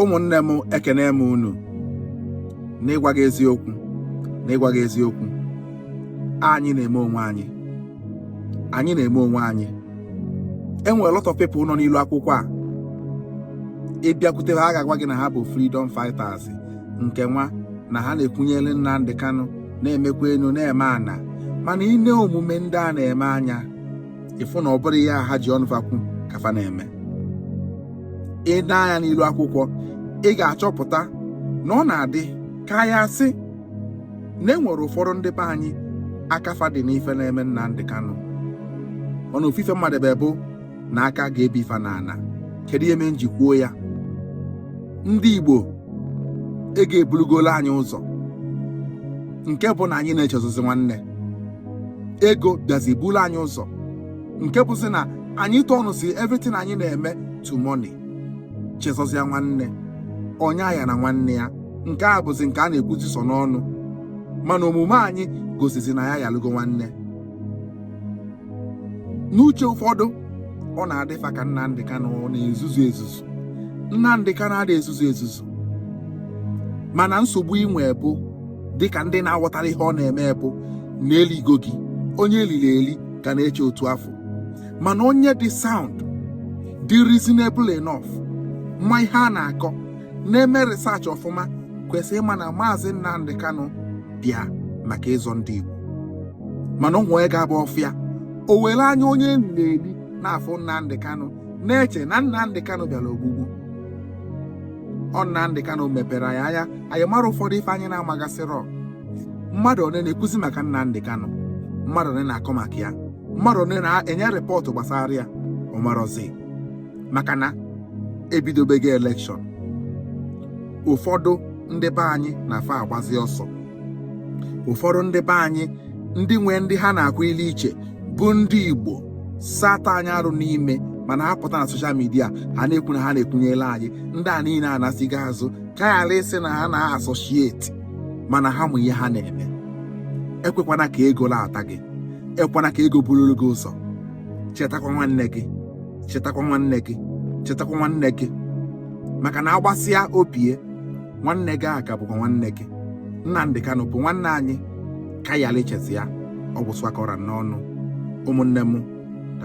ụmụnne m ekene m unu n'ịgwa gị eziokwu n'ịgwa gị eziokwu anyị na-eme onwe anyị anyị na-eme onwe anyị enwere lot of people nọ n'ilu akwụkwọ a ị bịakwute ha ha ga-agwa gị na ha bụ freedom fighters nke nwa na ha na-ekwunyere Nnamdi Kanu na-emekwa enu na-eme ana mana i nee omume ndị a na-eme anya ị fụ na ọ bụrọ ihe ha ji ọnụ fa kwu ka fa na-eme i nee anya n'ilu akwụkwọ ị ga-achọpụta na ọ na-adị ka ya sị na enwere ụfọdụ ndị be anyị aka fa dị n'ife na-eme Nnamdi Kanu ọnụ ofufe mmadụ ebe bụ na aka ga-ebi ife na ana kedu ihe mee m ji kwuo ya ndị Igbo ego ebulugola anyị ụzọ nke bụ na anyị na-echezozi nwanne ego bịazi bulu anyị ụzọ nke bụzi na anyị turnụzi everything anyị na-eme to money chezọzịa nwanne onye ayana nwanne ya nke a bụzi nke a na-ekwuzi sọ n'ọnụ mana omume anyị gosizi na anyị yalụgo nwanne n'uche ụfọdụ ọ na-adịfa ka Nnamdị Kanụ na-ezuzu ezuzu Nnamdị Kanụ adịghị ezuzu ezuzu mana nsogbu i nwe bụ dịka ndị na-aghọtarọ ihe ọ na-eme bụ na eligo gị onye elili eli ka na-eche otu afụ mana onye dị sound dị reasonable enough ma ihe a na-akọ na-eme research ọfụma kwesịrị ịma na maazị Nnamdi Kanu bịa maka ịzọ ndị Igbo mana onye ga-abụ ọ fụ ya o were anya onye elili eli na-afụ Nnamdi Kanu na-eche na Nnamdi Kanu bịara ogbugbu ọ Nnamdị Kanụ mepere anyị anya anyị mara ụfọdụ ife anyị na-amagasịrọ mmadụ one na-ekwuzi maka Nnamdị Kanụ mmadụ one na-akọ maka ya mmadụ one na-enye rịpọtụ gbasara ya ọ marọzi maka na ebidobego elekshọn ụfọdụ ndị be anyị na-afa agbazi ọsọ ụfọdụ ndị be anyị ndị nwee ndị ha na-akwụ ilu iche bụ ndị igbo so ata anyị arụ n'ime mana ha pụta na soshal midia ha na-ekwu na ha na-ekwunyela anyị ndị a niile anasịgo azụ ka ghara ịsị na ha na-asọshieti mana ha ma ihe ha na-eme ekwekwana ka ego lata gị ekwana ka ego bururu gị ụzọ chetakwa nwanne gị chetakwa nwanne gị chetakwa nwanne gị maka na a gbasịa o bie nwanne gị aka bụkwa nwanne gị Nnamdi Kanu bụ nwanne anyị ka anyị lechezi ya ọ gwụsịwakọra n'ọnụ ụmụnne m